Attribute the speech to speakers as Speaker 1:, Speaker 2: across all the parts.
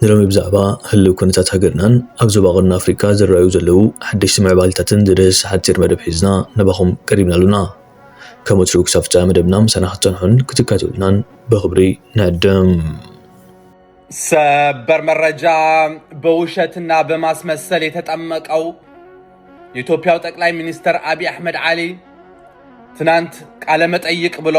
Speaker 1: ንሎሚ ብዛዕባ ህልው ኩነታት ሃገርናን ኣብ ዞባ ቀርኒ ኣፍሪቃ ዝረኣዩ ዘለዉ ሓደሽቲ ምዕባሊታትን ዝድህስስ ሓጺር መደብ ሒዝና ናባኹም ቀሪብና ኣሎና። ከም ወትሩ ክሳብ ፍጻመ መደብና ምሳና ክትጸንሑን ክትካተሉናን ብኽብሪ ንዕድም።
Speaker 2: ሰበር መረጃ! በውሸትና በማስመሰል የተጠመቀው የኢትዮጵያው ጠቅላይ ሚኒስተር አብይ አሕመድ አሊ ትናንት ቃለ መጠይቅ ብሎ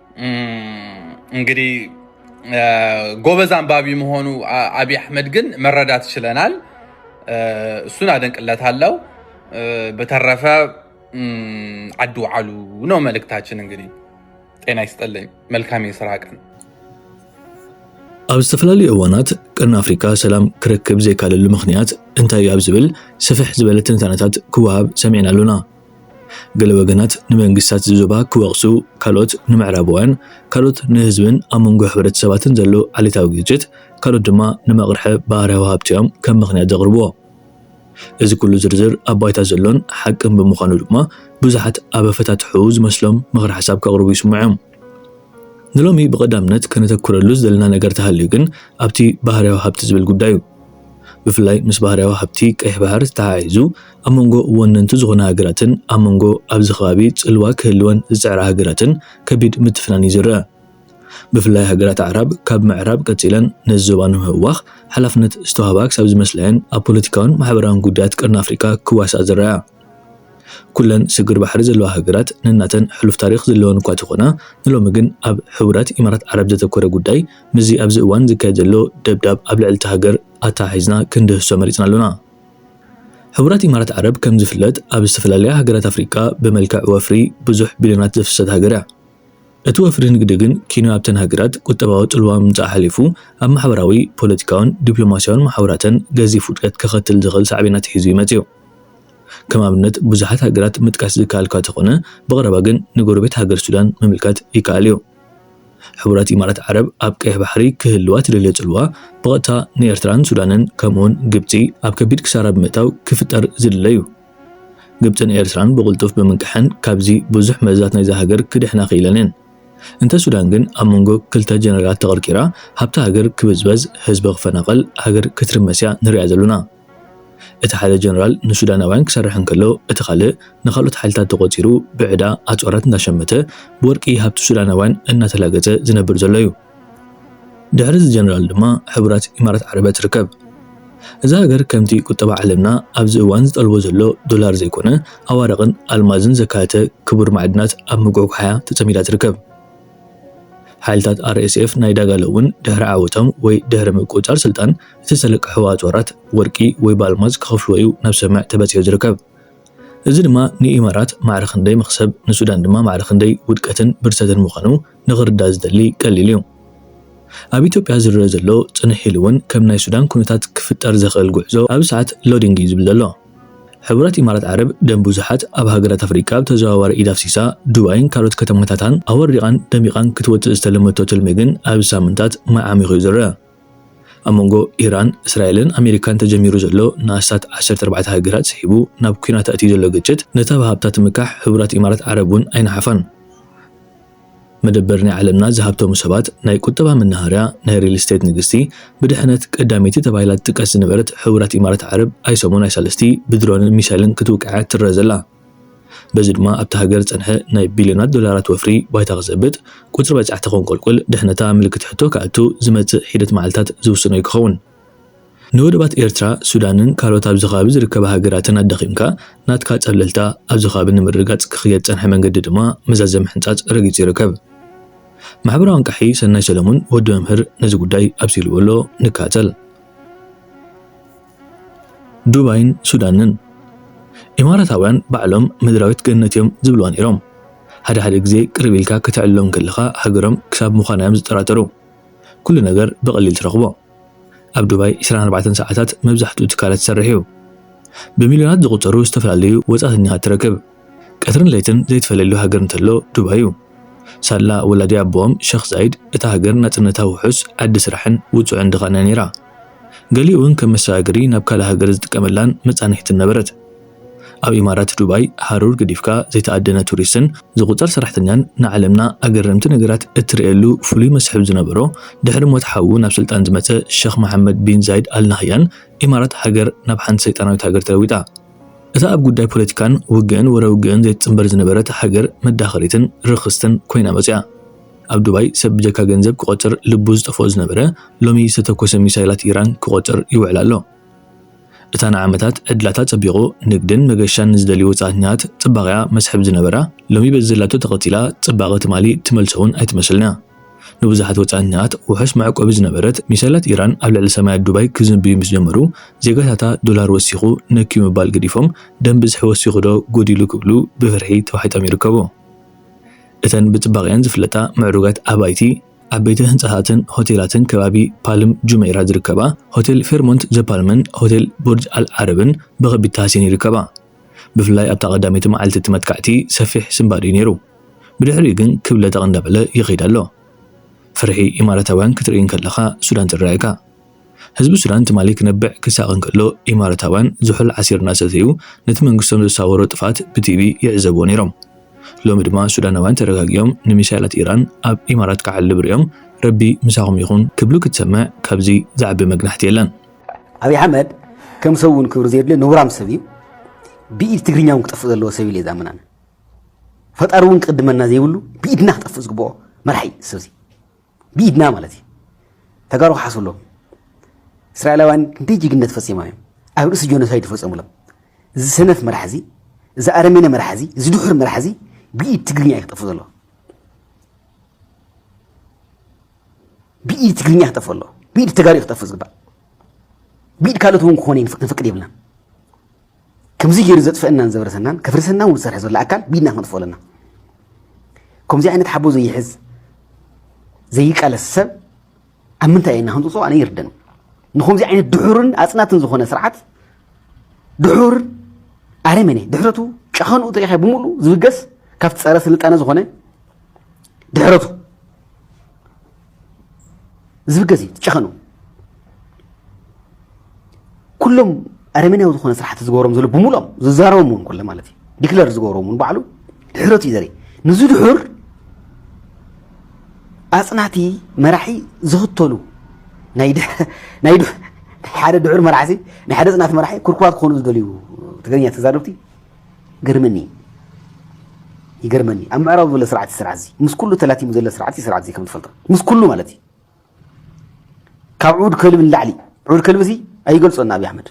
Speaker 2: እንግዲህ ጎበዝ አንባቢ መሆኑ አብይ አሕመድ ግን መረዳት ችለናል። እሱን አደንቅለታለሁ። በተረፈ አዱ አሉ ነው መልእክታችን። እንግዲህ ጤና ይስጠልኝ። መልካም የስራ ቀን። ኣብ ዝተፈላለዩ እዋናት ቅርን ኣፍሪካ ሰላም ክረክብ ዘይካለሉ ምክንያት እንታይ ኣብ ዝብል ስፍሕ ዝበለ ትንታነታት ክወሃብ ሰሚዕና ኣሎና። ገለ ወገናት ንመንግስታት እዚ ዞባ ክወቕሱ፣ ካልኦት ንምዕራባውያን፣ ካልኦት ንህዝብን ኣብ መንጎ ሕብረተሰባትን ዘሎ ዓሌታዊ ግጭት፣ ካልኦት ድማ ንመቕርሐ ባህርያዊ ሃብቲ'ዮም ከም ምኽንያት ዘቕርብዎ። እዚ ኩሉ ዝርዝር ኣብ ባይታ ዘሎን ሓቅን ብምዃኑ ድማ ብዙሓት ኣብ ኣፈታትሕኡ ዝመስሎም ምኽረ ሓሳብ ከቕርቡ ይስምዑ'ዮም። ንሎሚ ብቐዳምነት ከነተኩረሉ ዘለና ነገር ተሃልዩ ግን ኣብቲ ባህርያዊ ሃብቲ ዝብል ጉዳይ እዩ። ብፍላይ ምስ ባህርያዊ ሃብቲ ቀይሕ ባሕር ተሓሒዙ ኣብ መንጎ ወነንቲ ዝኾና ሃገራትን ኣብ መንጎ ኣብዚ ከባቢ ጽልዋ ክህልወን ዝጽዕራ ሃገራትን ከቢድ ምትፍናን እዩ ዝረኣ። ብፍላይ ሃገራት ኣዕራብ ካብ ምዕራብ ቀጺለን ነዚ ዞባ ንምህዋኽ ሓላፍነት ዝተዋህባ ክሳብ ዝመስላ'የን ኣብ ፖለቲካውን ማሕበራውን ጉዳያት ቀርኒ ኣፍሪቃ ክዋስኣ ዝረኣያ። ኩለን ስግር ባሕሪ ዘለዋ ሃገራት ነናተን ሕሉፍ ታሪኽ ዘለወን እኳ ተኾና፣ ንሎሚ ግን ኣብ ሕቡራት ኢማራት ዓረብ ዘተኮረ ጉዳይ ምስዚ ኣብዚ እዋን ዝካየድ ዘሎ ደብዳብ ኣብ ልዕሊ'ታ ሃገር ኣተሓሒዝና ክንድህስሶ መሪጽና ኣሎና። ሕቡራት ኢማራት ዓረብ ከም ዝፍለጥ ኣብ ዝተፈላለያ ሃገራት ኣፍሪቃ ብመልክዕ ወፍሪ ብዙሕ ቢልዮናት ዘፍሰሰት ሃገር እያ። እቲ ወፍሪ ንግዲ ግን ኪኖ ኣብተን ሃገራት ቁጠባዊ ጽልዋ ምምጻእ ሓሊፉ ኣብ ማሕበራዊ፣ ፖለቲካውን ዲፕሎማስያውን መሓውራተን ገዚፍ ውድቀት ከኸትል ዝኽእል ሳዕቤናት ሒዙ እዩ መጺኡ። ከም ኣብነት ብዙሓት ሃገራት ምጥቃስ ዝከኣል'ኳ ተኾነ ብቐረባ ግን ንጎረቤት ሃገር ሱዳን ምምልካት ይከኣል እዩ። ሕቡራት ኢማራት ዓረብ ኣብ ቀይሕ ባሕሪ ክህልዋ ትደልዮ ጽልዋ ብቐጥታ ንኤርትራን ሱዳንን ከምኡ'ውን ግብጺ ኣብ ከቢድ ክሳራ ብምእታው ክፍጠር ዝድለ እዩ። ግብጽን ኤርትራን ብቕልጡፍ ብምንቅሐን ካብዚ ብዙሕ መርዛት ናይዛ ሃገር ክድሕና ክኢለን እየን። እንተ ሱዳን ግን ኣብ መንጎ ክልተ ጀነራላት ተቐርቂራ ሃብቲ ሃገር ክብዝበዝ ህዝቢ ክፈናቐል ሃገር ክትርመስ እያ ንርእያ ዘሎና። እቲ ሓደ ጀነራል ንሱዳናውያን ክሰርሕ እንከሎ እቲ ካልእ ንካልኦት ሓይልታት ተቖጺሩ ብዕዳ ኣጽዋራት እንዳሸመተ ብወርቂ ሃብቲ ሱዳናውያን እናተላገጸ ዝነብር ዘሎ እዩ። ድሕሪ እዚ ጀነራል ድማ ሕቡራት ኢማራት ዓረበ ትርከብ። እዛ ሃገር ከምቲ ቁጠባ ዓለምና ኣብዚ እዋን ዝጠልቦ ዘሎ ዶላር ዘይኮነ ኣዋርቕን ኣልማዝን ዘካተተ ክቡር ማዕድናት ኣብ ምጉሕጓሕ'ያ ተጸሚዳ ትርከብ። ሓይልታት RSF ናይ ዳጋሎ እውን ድሕሪ ዓወቶም ወይ ድሕሪ ምቁጽጻር ስልጣን እቲ ዝተለቅሕዎ ኣጽዋራት ወርቂ ወይ ብኣልማዝ ክኸፍልዎ'ዩ ናብ ስምምዕ ተበጺሑ ዝርከብ። እዚ ድማ ንኢማራት ማዕረ ክንደይ መኽሰብ፣ ንሱዳን ድማ ማዕረ ክንደይ ውድቀትን ብርሰትን ምዃኑ ንኽርዳእ ዝደሊ ቀሊል እዩ። ኣብ ኢትዮጵያ ዝርእ ዘሎ ጽንሕ ኢሉ እውን ከም ናይ ሱዳን ኩነታት ክፍጠር ዘኽእል ጉዕዞ ኣብ ሰዓት ሎዲንግ እዩ ዝብል ዘሎ። ሕቡራት
Speaker 1: ኢማራት ዓረብ ደም ብዙሓት ኣብ ሃገራት ኣፍሪቃ ብተዘዋዋሪ ኢድ ኣፍሲሳ፣ ዱባይን ካልኦት ከተማታታን ኣወሪቓን ደሚቓን ክትወጽእ ዝተለመቶ ትልሚ ግን ኣብዚ ሳምንታት ማይ ዓሚኹ እዩ ዝርእ። ኣብ መንጎ ኢራን፣ እስራኤልን ኣሜሪካን ተጀሚሩ ዘሎ ንኣስታት ዓሰርተ ኣርባዕተ ሃገራት ስሒቡ ናብ ኲናት ኣእትዩ ዘሎ ግጭት፣ ነታ ብሃብታ ትምካሕ ሕቡራት ኢማራት ዓረብ እውን ኣይነሓፋን። መደበር ናይ ዓለምና ዝሃብተሙ ሰባት፣ ናይ ቁጠባ መናሃርያ፣ ናይ ሪል ስቴት ንግስቲ፣ ብድሕነት ቀዳመይቲ ተባሂላ ትጥቀስ ዝነበረት ሕቡራት ኢማራት ዓረብ ኣይሰሙን ኣይሳልስቲ ብድሮንን ሚሳይልን ክትውቃዕ'ያ ትረኣ ዘላ። በዚ ድማ ኣብታ ሃገር ዝጸንሐ ናይ ቢልዮናት ዶላራት ወፍሪ ባይታ ክዘብጥ፣ ቁጽሪ በጻሕቲ ከንቆልቁል፣ ድሕነታ ምልክት ሕቶ ክኣቱ ዝመጽእ ሒደት መዓልታት ዝውስኖ'ዩ ክኸውን። ንወደባት ኤርትራ፣ ሱዳንን ካልኦት ኣብዚ ከባቢ ዝርከባ ሃገራትን ኣዳኺምካ ናትካ ጸብለልታ ኣብዚ ከባቢ ንምርግጋጽ ክኽየድ ዝጸንሐ መንገዲ ድማ መዛዘሚ ምሕንጻጽ ረጊጹ ይርከብ። ማሕበራዊ ኣንቃሒ ሰናይ ሰለሙን፣ ወዲ መምህር፣ ነዚ ጉዳይ ኣብሲልዎ'ሎ። ንካተል። ዱባይን ሱዳንን ኢማራታውያን ባዕሎም ምድራዊት ገነት እዮም ዝብልዋ ነይሮም። ሓደ ሓደ ግዜ ቅርብ ኢልካ ከተዕልሎም ከለኻ ሃገሮም ክሳብ ምዃና እዮም ዝጠራጠሩ። ኩሉ ነገር ብቐሊል ትረኽቦ። ኣብ ዱባይ ዕስራን ኣርባዕተን ሰዓታት መብዛሕትኡ ትካላት ይሰርሕ እዩ። ብሚልዮናት ዝቑጸሩ ዝተፈላለዩ ወጻእተኛታት ትረክብ። ቀትርን ለይትን ዘይትፈለየሉ ሃገር እንተሎ ዱባይ እዩ። ሳላ ወላዲ ኣቦኦም ሸኽ ዛይድ እታ ሃገር ናጽነታ ውሑስ፣ ዓዲ ስራሕን ውጹዕን ድኻን እያ ነይራ። ገሊኡ'ውን ከም መሰጋገሪ ናብ ካልእ ሃገር ዝጥቀመላን መጻንሒትን ነበረት። ኣብ ኢማራት ዱባይ ሃሩር ገዲፍካ ዘይተኣደነ ቱሪስትን ዝቑጸር ሰራሕተኛን ንዓለምና ኣገረምቲ ነገራት እትርእየሉ ፍሉይ መስሕብ ዝነበሮ ድሕሪ ሞት ሓዉ ናብ ስልጣን ዝመጸ ሸኽ መሓመድ ቢን ዛይድ ኣል ናህያን ኢማራት ሃገር ናብ ሓንቲ ሰይጣናዊት ሃገር ተለዊጣ። እታ ኣብ ጉዳይ ፖለቲካን ውግእን ወረ ውግእን ዘይትጽንበር ዝነበረት ሃገር መዳኸሪትን ርኽስትን ኮይና መጺኣ። ኣብ ዱባይ ሰብ ብጀካ ገንዘብ ክቖጽር ልቡ ዝጠፍኦ ዝነበረ፣ ሎሚ ዝተተኮሰ ሚሳይላት ኢራን ክቖጽር ይውዕል ኣሎ። እታ ንዓመታት ዕድላታ ጸቢቑ ንግድን መገሻን ንዝደልዩ ወጻእተኛታት ጽባቒኣ መስሕብ ዝነበራ፣ ሎሚ በዚ ዘላቶ ተቐጺላ ጽባቐ ትማሊ ትመልሶ'ውን ኣይትመስልን'ያ። ንብዙሓት ወጻእተኛታት ውሑስ መዕቆቢ ዝነበረት ሚሳይላት ኢራን ኣብ ልዕሊ ሰማያት ዱባይ ክዝንብዩ ምስ ጀመሩ፣ ዜጋታታ ዶላር ወሲኹ ነክዩ ምባል ገዲፎም ደም ብዝሒ ወሲኹ'ዶ ጎዲሉ ክብሉ ብፍርሒ ተዋሒጦም ይርከቡ። እተን ብጽባቐኣን ዝፍለጣ ምዕሩጋት ኣባይቲ ዓበይቲ ህንጻታትን ሆቴላትን ከባቢ ፓልም ጁመይራ ዝርከባ ሆቴል ፌርሞንት ዘ ፓልምን ሆቴል ቡርጅ ኣል ዓረብን ብኸቢድ ተሃስየን ይርከባ። ብፍላይ ኣብታ ቀዳመይቲ መዓልቲ እቲ መጥቃዕቲ ሰፊሕ ስንባድ እዩ ነይሩ። ብድሕሪኡ ግን ክብ ለጠቕ እንዳበለ ይኸይድ ኣሎ። ፍርሒ ኢማራታውያን ክትርኢ እንከለኻ ሱዳን ትረኣየካ። ህዝቢ ሱዳን ትማሊ ክነብዕ ክሳቐ እንከሎ ኢማራታውያን ዝሑል ዓሲር እናሰተዩ ነቲ መንግስቶም ዘሳወሮ ጥፍኣት ብቲቪ ይዕዘብዎ ነይሮም። ሎሚ ድማ ሱዳናውያን ተረጋጊኦም ንሚሳይላት ኢራን ኣብ ኢማራት ክዓልብ ርእዮም ረቢ ምሳኹም ይኹን ክብሉ ክትሰምዕ ካብዚ ዝዓቢ መግናሕቲ የለን። ኣብይ ኣሕመድ
Speaker 3: ከም ሰብ እውን ክብሪ ዘየድልዮ ነውራም ሰብ እዩ። ብኢድ ትግርኛ እውን ክጠፍእ ዘለዎ ሰብ ኢለ ዝኣምን ኣነ። ፈጣሪ እውን ክቕድመና ዘይብሉ ብኢድና ክጠፍእ ዝግብኦ መራሒ እዩ ሰብዚ። ብኢድና ማለት እዩ ተጋሩ ክሓስብሎም እስራኤላውያን ክንደይ ጅግነት ፈፂሞም እዮም ኣብ ርእሲ ጆኖሳይድ ፈፀሙሎም እዚ ሰነፍ መራሕ እዚ እዚ ኣረሜነ መራሕ እዚ እዚ ድሑር መራሕ እዚ ብኢድ ትግርኛ እዩ ክጠፍእ ዘለዎ ብኢድ ትግርኛ ክጠፍእ ኣለዎ ብኢድ ተጋሪ ክጠፍእ ዝግባእ ብኢድ ካልኦት እውን ክኾነ ንፍቅድ የብልናን ከምዚ ገይሩ ዘጥፈእናን ዘብረሰናን ከፍርሰና እውን ዝሰርሐ ዘሎ ኣካል ቢድና ክነጥፎ ኣለና ከምዚ ዓይነት ሓቦ ዘይሕዝ ዘይቃለስ ሰብ ኣብ ምንታይ ኢና ክንፅፆ ኣነ ይርደን ንከምዚ ዓይነት ድሑርን ኣፅናትን ዝኾነ ስርዓት ድሑር ኣረመኔ ድሕረቱ ጨኸንኡ ተሪኸ ብምሉ ዝብገስ ካብቲ ፀረ ስልጣነ ዝኾነ ድሕረቱ ዝብ ገዜ ጨኸኑ ኩሎም ኣረሜናዊ ዝኾነ ስራሕቲ ዝገበሮም ዘሎ ብምሎም ዝዛረቦም እውን ኮለ ማለት እዩ ዲክለር ዝገበሮም እውን ባዕሉ ድሕረት እዩ ዘርኢ ንዚ ድሑር ኣፅናቲ መራሒ ዝኽተሉ ናይ ሓደ ድሑር መራሕሲ ናይ ሓደ ፅናት መራሒ ኩርኩራት ክኾኑ ዝደልዩ ትግርኛ ተዛረብቲ ግርምኒ ይገርመኒ ኣብ ምዕራብ ዘሎ ስርዓት ስርዓት እዚ ምስ ኩሉ ተላቲሙ ዘሎ ስርዓት እዩ ስርዓት እዚ ከም ትፈልጦ ምስ ኩሉ ማለት እዩ ካብ ዑድ ከልቢ ንላዕሊ ዑድ ከልቢ እዚ ኣይገልፆን ኣብዪ ኣሕመድ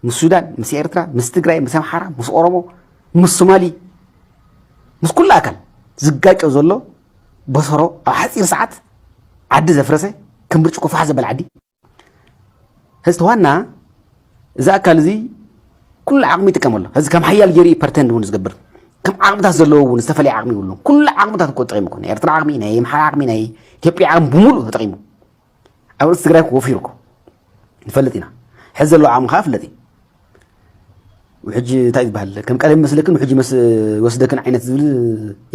Speaker 3: ምስ ሱዳን ምስ ኤርትራ ምስ ትግራይ ምስ ኣምሓራ ምስ ኦሮሞ ምስ ሶማሊ ምስ ኩሉ ኣካል ዝጋጮ ዘሎ በሰሮ ኣብ ሓፂር ሰዓት ዓዲ ዘፍረሰ ከም ብርጭቆ ፋሕ ዘበለ ዓዲ ህዝቲ ዋና እዚ ኣካል እዚ ኩሉ ዓቕሚ ይጥቀም ኣሎ ህዚ ከም ሓያል ገይሩ ፐርተንድ እውን ዝገብር ከም ዓቕምታት ዘለዎ እውን ዝተፈላለየ ዓቕሚ ይብሉ ኩሉ ዓቕምታት እኮ ተጠቂሙ እኮ ናይ ኤርትራ ዓቕሚ ናይ ምሓራ ዓቕሚ ናይ ኢትዮጵያ ዓቕሚ ብምሉእ ተጠቂሙ ኣብ ርእሲ ትግራይ ወፊሩ እኮ ንፈልጥ ኢና ሕዚ ዘለዎ ዓቕሚ ከዓ ፍለጥ እዩ ውሕጂ እንታይ ዝበሃል ከም ቀደም ይመስለክን ውሕጂ መስ ወስደክን ዓይነት ዝብል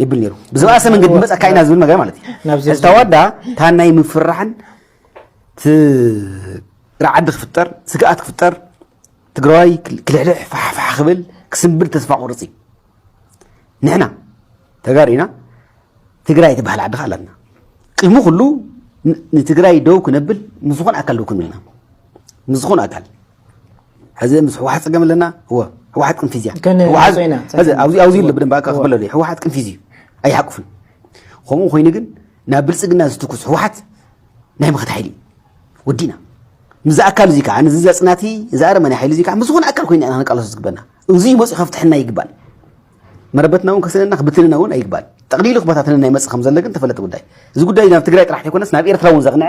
Speaker 3: ይብል ነይሩ ብዝበኣሰ መንገዲ መፀካ ኢና ዝብል ነገር ማለት እዩ ሕዚ ተዋዳ ታናይ ምፍራሕን ራዕዲ ክፍጠር ስግኣት ክፍጠር ትግራዋይ ክልሕልሕ ፋሕፋሕ ክብል ክስምብል ተስፋ ቁርፅ እዩ ንሕና ተጋሩ ኢና ትግራይ ትበሃል ዓዲ ከዓ ኣለና ቅድሚ ኩሉ ንትግራይ ደው ክነብል ምስ ዝኾነ ኣካል ደው ክንብል ኢና ምስ ዝኾነ ኣካል ሕዚ ምስ ህወሓት ፀገም ኣለና እወ ህወሓት ቅንፊዝ እያ ግን ህወሓት- ዞይና፣ ሕዚ ኣብዚ ኣብዚ ኣሎ ብደንብ ኣካ ክበለሉ ህወሓት ቅንፊዝ እዩ ኣይሓቁፍን ከምኡ ኮይኑ ግን ናብ ብልፅግና ዝትኩስ ህወሓት ናይ ምኸት ሓይሊ እዩ ወዲእና ምዚ ኣካል እዚ ከዓ ንዚ ዘፅናቲ እዚ ኣረመኔ ሓይሊ እዚ ከዓ ምስ ዝኾነ ኣካል ኮይና ኢና ክንቃለሶ ዝግበና እዙይ መፅኡ ከፍትሐና ይግባል መረበትና እውን ከስለና ክብትንና እውን ኣይግባል ጠቕሊሉ ክበታትነና ይመፅእ ከም ዘሎ ግን ተፈለጢ ጉዳይ እዚ ጉዳይ ናብ ትግራይ ጥራሕ ተይኮነስ ናብ ኤርትራ እውን ዘቕንዐ